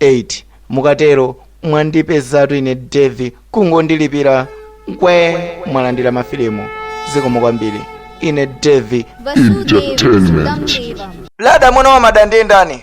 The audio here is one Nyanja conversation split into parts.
8 mukatero mwandipezatu ine Davie kungondilipira mmene mwalandira mafilimu zikomo kwambiri ine Davie Entertainment. lada mwana wa madamu ndi ndani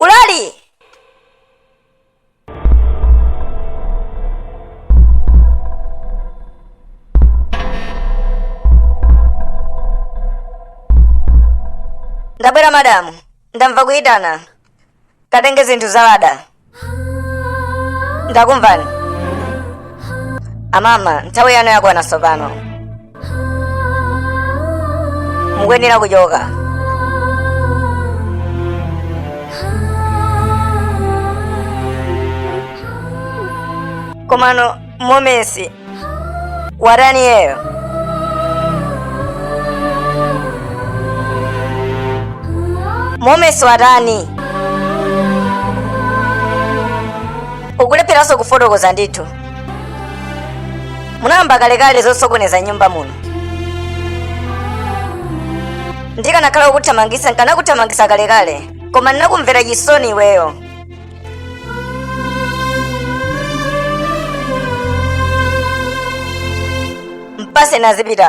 ulali ndabwera madamu ndamva kuyitana katenge zinthu za Lada ndakumvani amama nthawi yanu yakwana tsopano mukuyenera kuchoka komano momesi watani iyeyo momesi watani ukulepheranso kufotokoza ndithu munayamba kalekale zosokoneza m'nyumba muno ndikanakhala kukuthamangisa nkanakuthamangisa kalekale koma ninakumvera chisoni iweyo mpatse azipita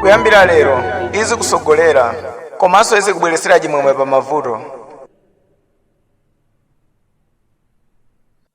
kuyambira lero izikusogolera komanso izikubweresera chimwemwe pa mavuto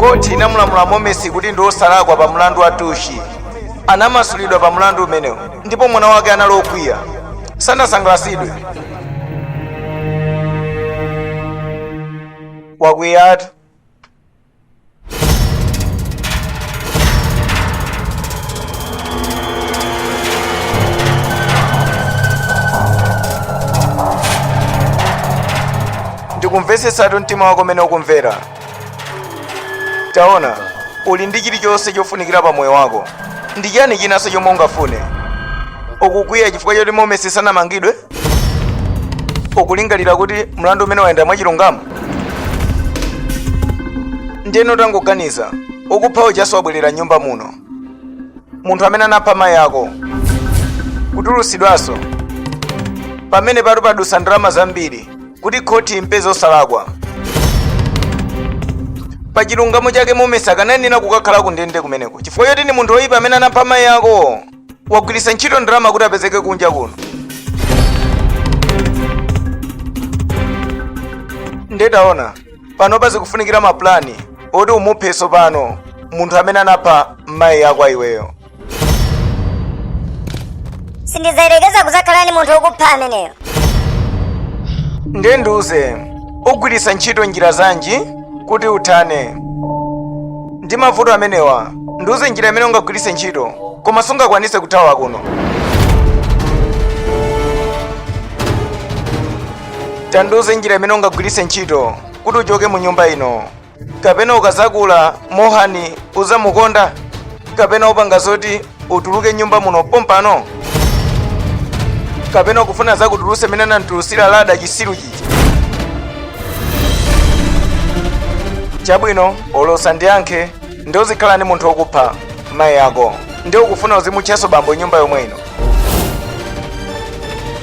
khoti linamulamula momesi kuti ndi wosalakwa pa mlandu wa tushi anamasulidwa pa mlandu umenewu ndipo mwana wake anali okwiya sanasangalasidwe wakwiyatu ndikumvetsetsatu mtima wako umene ukumvera taona uli ndi chilichonse chofunikira pa moyo wako ndi chiyani chinanso chomwe ungafune ukukwiya chifukwa choti momesi sanamangidwe ukulingalira kuti mlandu umenewu wayenda mwachilungamo ndiyeno tangoganiza wakupha ujanso wabwerera m'nyumba muno munthu amene anapha mayi ako kutulutsidwanso pamenepatu padutsa ndalama zambiri kuti khoti imupeze wosalakwa pa chilungamo chake mumesa anayenera kukakhala ku ndende kumeneko chifukwa choti ndi munthu woyipa amene anapha mayi ako wagwiritsa ntchito ndalama kuti apezeke kunja kuno nde taona panopa zikufunikira mapulani oti umuphe tsopano munthu amene anapha mayi ako iweyo sindidzayerekeza kudzakhala ndi munthu wokupha ameneyo ndiye ndiuze ugwiritsa ntchito njira zanji kuti uthane ndi mavuto amenewa ndiuze njira imene ungagwiritse ntchito koma sungakwanise kuthawa kuno tandiuze njira imene ungagwiritse ntchito kuti uchoke mu nyumba ino kapena ukazakula mohani uzamukonda kapena upanga zoti utuluke nyumba muno pompano kapena ukufuna zakutuluse mene anamutulusira lada chisiru chija chabwino ulosa ndiyankhe nde uzikhala ndi munthu wokupha mayi ako nde ukufuna uzimutchaso bambo nyumba yomwe ino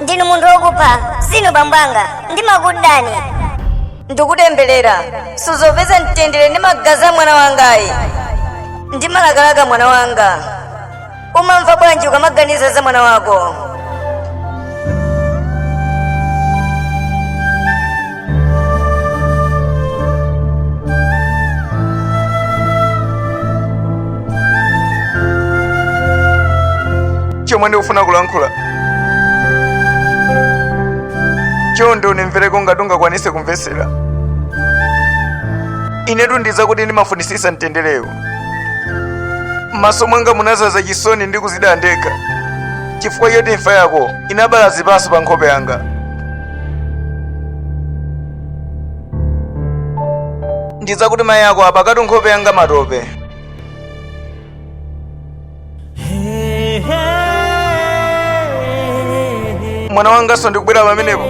ndinu munthu wokupha sinu bambo wanga ndimakudani ndikutemberera suzapeza mtendere ndi magazi a mwana wangayi ndimalakalaka mwana wanga umamva bwanji ukamaganiza za mwana wako chomwe ndikufuna kulankhula chonde unimvereko ngati ungakwanise kumvetsera inetu dziwa kuti ndimafunisisa mtenderewu m'maso mwanga munazaza chisoni ndi kuzidandaula chifukwa choti imfa yako inabala zipaso pa nkhope yanga ndidziwa kuti mayi ako apakatu nkhope yanga matope mwana wanganso ndikubwera pamenepo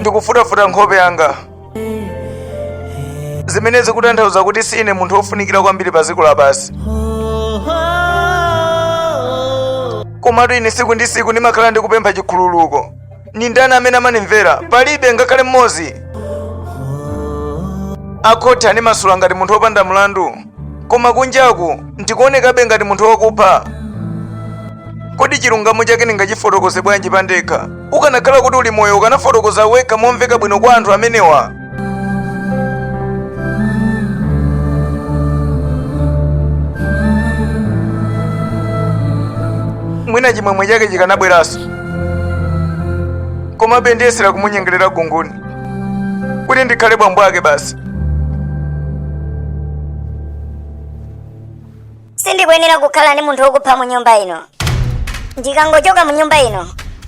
ndikufuta-futa nkhope yanga zimene zikutanthauza kuti si ine munthu wofunikira kwambiri pa dziko lapansi komatu ine tsiku ndi tsiku ndimakhala ndikupempha chikhululuko ndi ndani amene amanimvera palibe ngakhale mmodzi akhoti andimasula ngati munthu wopanda mlandu koma kunjaku ndikuonekabe ngati munthu wakupha kodi chilungamo chake ndingachifotokoze bwanji pandekha ukanakhala kuti uli moyo ukanafotokoza wekha momveka bwino kwa anthu amenewa mwina chimwemwe chake chikanabweranso komabe ndiyesera kumunyengerera kunguni kuti ndikhale bambo ake basi sindikuyenera kukhala ndi munthu wokupha mu nyumba ino ndikangochoka mu nyumba ino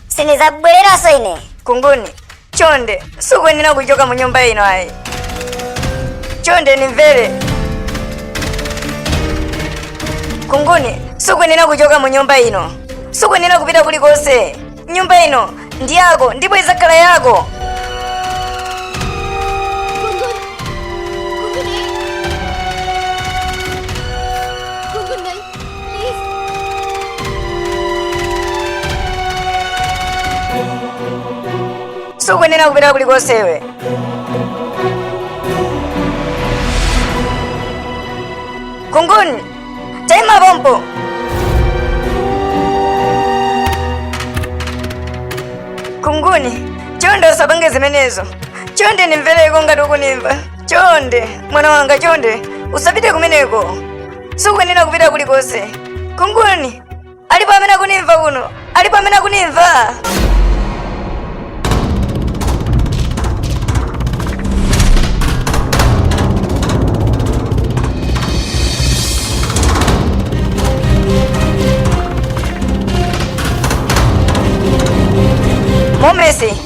sindizabwereranso ine kunguni chonde sukuyenera kuchoka mu nyumba ino ayi chonde nimvere kunguni sukuyenera kuchoka mu nyumba ino sukuyenera kupita kulikonse nyumba ino ndi yako ndipo idzakhala yako sukuyenera kupita kulikonse iwe kunguni Taima pompo! Kunguni, chonde usapange zimenezo. Chonde nimvereko ngati ukunimva. Chonde, mwana wanga chonde, usapite kumeneko. Sukuyenera kupita kulikonse. Kunguni, alipo amene akunimva kuno alipo amene akunimva momesi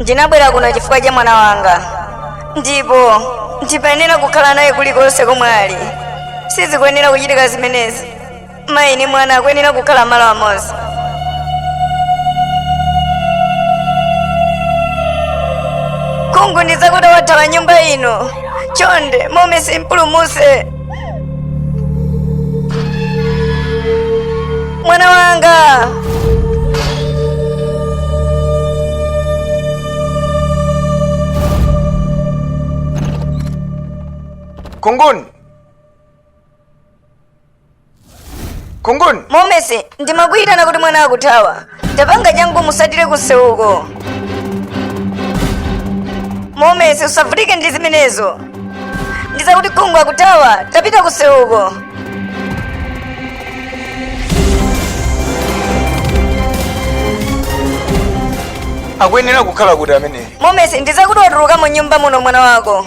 ndinabwera kuno chifukwa cha mwana wanga ndipo ndikuyenera kukhala naye kulikonse komwe ali sizikuyenera kuchitika zimenezi mayi ni mwana akuyenera kukhala malo amodzi kunguni zakuti wathawa nyumba ino chonde momesi mpulumutse mwana wanga kunguni kunguni momesi ndimakuyitana kuti mwana akuthawa tapanga changu musatire kumsewuko momesi usavutike ndi zimenezo ndizakuti kunguni akuthawa tapita kumsewuko akuyenera kukhala kuti ameneyi momesi ndizakuti watuluka mu nyumba muno mwana wako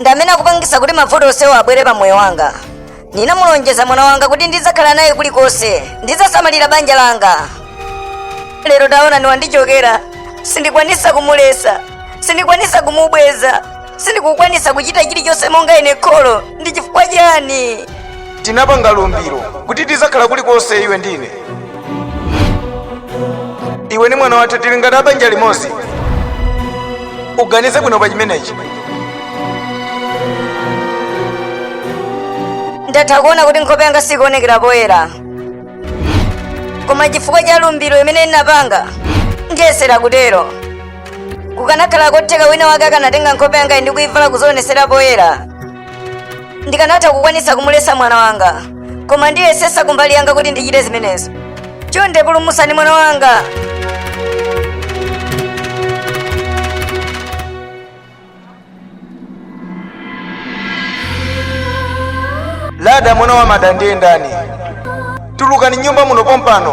ndi amene akupangisa kuti mavuto onsewo abwere pa moyo wanga ndinamulonjeza mwana wanga kuti ndidzakhala naye kulikonse ndidzasamalira banja langa lero taonani wandichokera sindikwanisa kumulesa sindikwanisa kumubweza sindikukwanisa kuchita chilichonse monga ine kholo ndi chifukwa chani tinapanga lumbiro kuti tizakhala kulikonse iwe ndi ine iwe ni mwana wathu tili ngati abanja limodzi uganize bwino pa chimenechi ndatha kuona kuti nkhope yanga sikuonekera poyera koma chifukwa cha lumbiro limene ndinapanga ndiyesera kutero kukanakhala kotheka wina wake akanatenga nkhope yangayi ndikuivala kuzionetsera poyera ndikanatha kukwanitsa kumuletsa mwana wanga koma ndiyesesa kumbali yanga kuti ndichite zimenezo chonde pulumusani mwana wanga lada mwana wa mada ndiye ndani tulukani m'nyumba muno pompano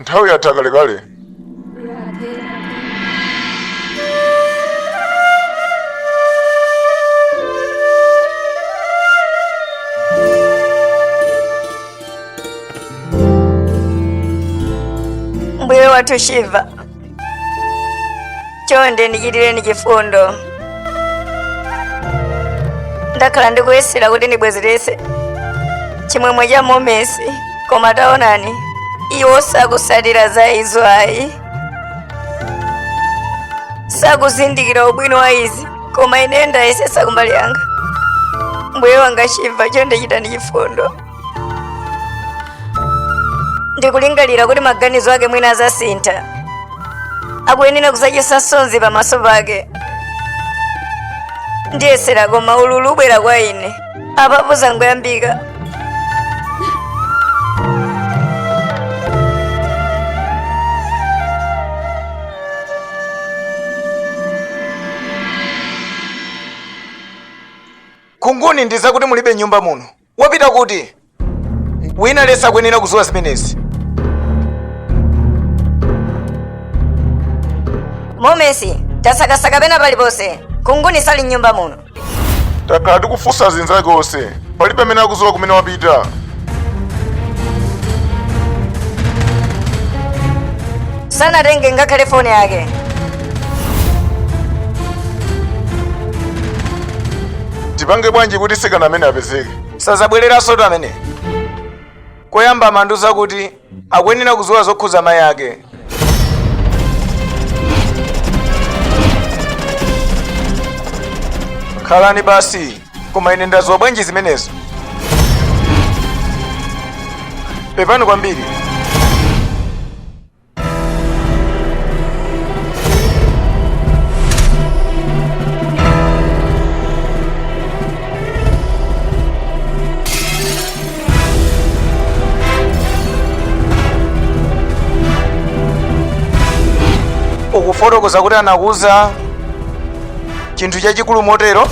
nthawi yatha kalekale mbuye wathu shiva chonde ndichitireni chifundo ndakhala ndikuyesera kuti ndibwezeretse chimwemwe cha momesi koma taonani iwo sakusatira za izo ayi sakuzindikira ubwino wa izi koma ine ndayesesa kumbali yanga mbuye wanga chimva chonde chitani chifundo ndikulingalira kuti maganizo ake mwina azasintha akuyenera kuzakhetsa msozi pamaso pake ndiyesera koma ululu ubwera kwa ine apapa zangoyambika kunguni ndizakuti mulibe m'nyumba muno Wapita kuti? Wina aliyense akuyenera kudziwa zimenezi. Momesi, tasakasaka pena paliponse. Kunguni sali m'nyumba muno. Takhala tikufunsa zinzake onse. Palibe amene akudziwa kumene wapita. Sanatenge ngakhale foni yake. tipange bwanji kuti mtsikana amene apezeke sazabwereransotu ameneyo koyamba amandiuza kuti akuyenera kudziwa zokhuza mayi ake khalani basi koma ine ndadziwa bwanji zimenezo pepani kwambiri ukufotokoza kuti anakuuza chinthu chachikulu motero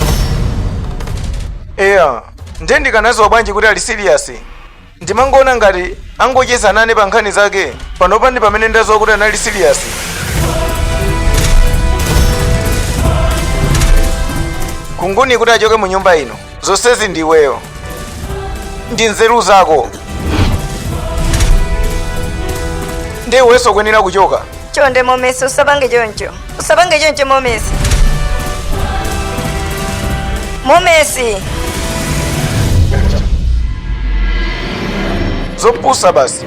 eya ndiye ndikanaziwa bwanji kuti ali serious Ndimangoona ngati angocheza nane pa nkhani zake. Panopa ndi pamene ndadziwa kuti anali serious. Khunguni kuti achoke mu nyumba ino. Zonsezi ndi iweyo. Ndi nzeru zako. Ndi iwenso ukuyenera kuchoka. chonde momesi usapange choncho usapange choncho momesi momesi zopusa basi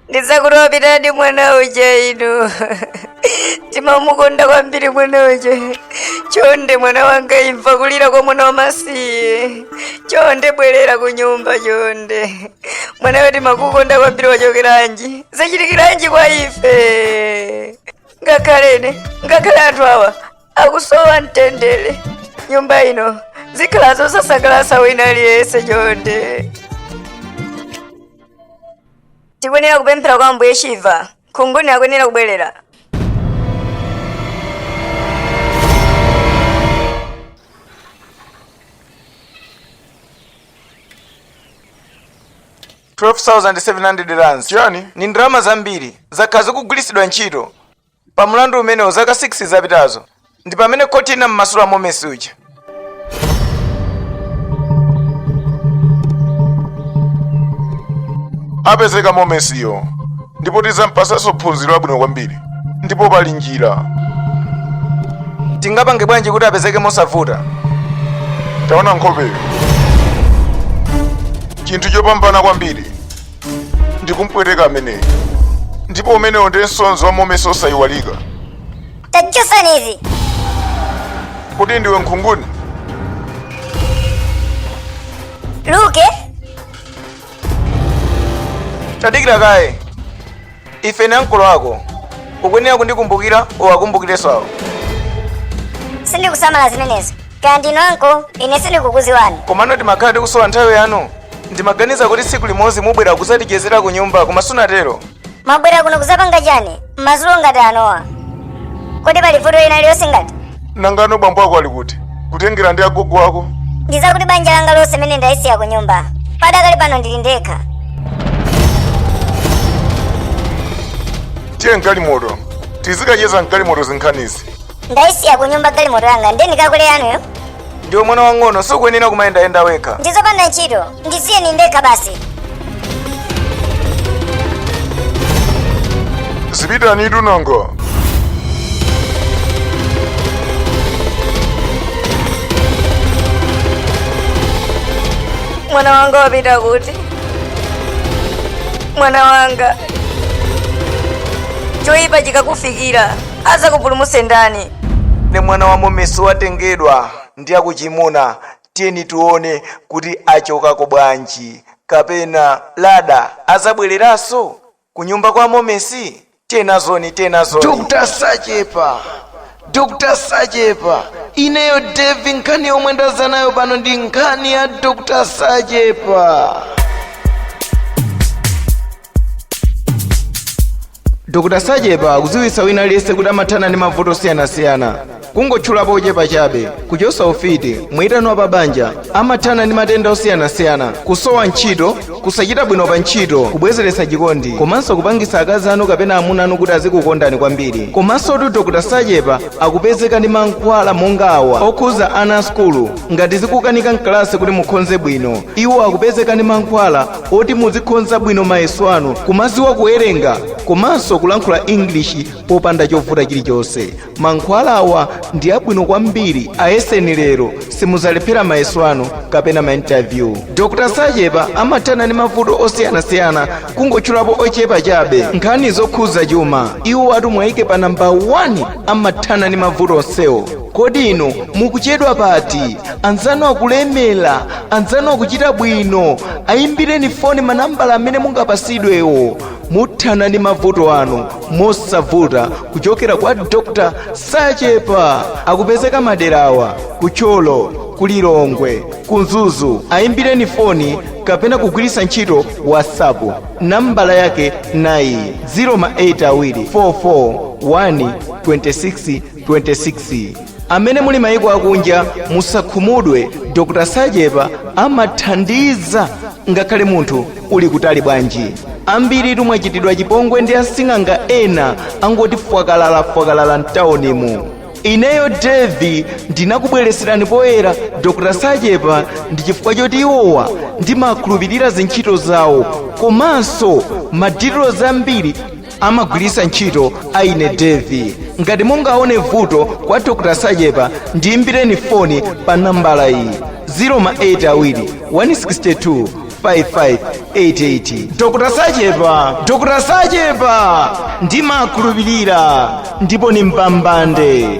ndiye akuti wapitadi mwana uja inu timamukonda kwambiri mwana uja chonde mwana wanga imva kulira kwa mwana wamasiye chonde bwerera ku nyumba chonde mwanawe timakukonda kwambiri wachokeranji zachitikiranji kwa ife ngakhale ine ngakhale anthu awa akusowa mtendere m'nyumba ino zikukhala zosasangalatsa kwa wina aliyense chonde tikuyenera kupemphera kwa ambuye shiva Khunguni akuyenera kubwerera. $12,700 chiyani ndi ndalama zambiri zakhala zikugwiritsidwa ntchito pa mlandu umenewo zaka 6 zapitazo ndi pamene khoti linammasula momesi uja apezeka momesiyo ndipo tizampasanso phunziro labwino kwambiri ndipo pali njira tingapange bwanji kuti apezeke mosavuta taona nkhopeyo chinthu chopambana kwambiri ndikumpweteka ameneyo ndipo umenewo ndiye msonzi wa momesi osayiwalika tachosani izi kodi ndiwe nkhunguni luke tadikira kaye ife ni ankolo ako ukuyenera kundikumbukira uwakumbukirenso awo sindikusamala zimenezo kaya ndinu anko ine sindikukuziwani komano timakhala tikusowa nthawi yanu ndimaganiza kuti tsiku limodzi mubwera kuzatichezera ku nyumba koma sunatero mwabwera kuno kuzapanga chani mmazulo ngati anowa kodi pali vuto lina lilonse ngati nanga nanga bambo ako ali kuti kutengera ndi agogo ako ndizakuti banja langa lonse mene ndayisiya ku nyumba padakali pano ndili ndekha tiye mgalimoto tizikacheza mgalimoto zinkhanizi Ndaisiya kunyumba galimoto yanga ndiye ndikakwele yanuyo. Ndiwe mwana wang'ono sukuyenera kumayendayenda wekha. Ndizopanda ntchito ndisiyeni ndekha basi. Zipitani tunanga. Mwana wanga wapita kuti? Mwana wanga. Choipa chikakufikira. adzakupulumutse ndani? Pamene mwana wa Momesi watengedwa ndi akuchimuna, tiyeni tione kuti achokako bwanji. Kapena Lada azabweleranso? Kunyumba kwa Momesi? Tiye nazoni, tiye nazoni. Dr Sachepa, Dr Sachepa, ineyo Devi nkhani yomwe ndaza nayo pano ndi nkhani ya Dr Sachepa. dr sachepa akudziwitsa wina aliyense kuti amathana ndi mavuto osiyanasiyana kungotchulapo ochepa chabe kuchotsa ufiti muyitano wa pabanja amathana ndi matenda osiyanasiyana kusowa ntchito kusachita bwino pa ntchito kubwezeretsa chikondi komanso kupangitsa akazi anu kapena amuna anu kuti azikukondani kwambiri komanso tu dr sachepa akupezeka ndi mankhwala monga awa okhuza ana a sukulu ngati zikukanika mkalasi kuti mukhonze bwino iwo akupezeka ndi mankhwala oti muzikhonza bwino mayeso anu kumaziwa kuwerenga komanso kulankhula english popanda chovuta chilichonse mankhwala awa ndi abwino kwambiri ayeseni lero simuzalephera mayeso anu kapena mainterview dr sachepa amathana ndi mavuto osiyanasiyana kungotchulapo ochepa chabe nkhani zokhudza chuma iwowatu mwayike pa namba 1 amathana ndi mavuto onsewo kodi inu mukuchedwa pati anzanu akulemera anzanu akuchita bwino ayimbireni foni manambala amene mungapasidwewo muthana ndi mavuto anu mosavuta kuchokera kwa dr sachepa akupezeka maderawa ku thyolo ku lilongwe ku mzuzu ayimbireni foni kapena kugwiritsa ntchito whatsapp nambala yake nayi 08 awiri 44 1 26 26 amene muli mayiko akunja musakhumudwe dr sachepa amathandiza ngakhale munthu uli kutali bwanji ambirinu mwachitidwa chipongwe ndi asing'anga ena angoti fwakalala fwakalala mtawunimu ineyo devi ndinakubweretserani poyera dr sachepa ndi chifukwa choti iwowa ndimakhulupirira zintchito zawo komanso ma dealers ambiri amagwiritsa ntchito a ine devi ngati mungaone vuto kwa dr sachepa ndiyimbireni foni pa nambala iyi 08 awiri 162 5588 dr sachepa dr sachepa ndimakhulupirira ndipo ni mbambande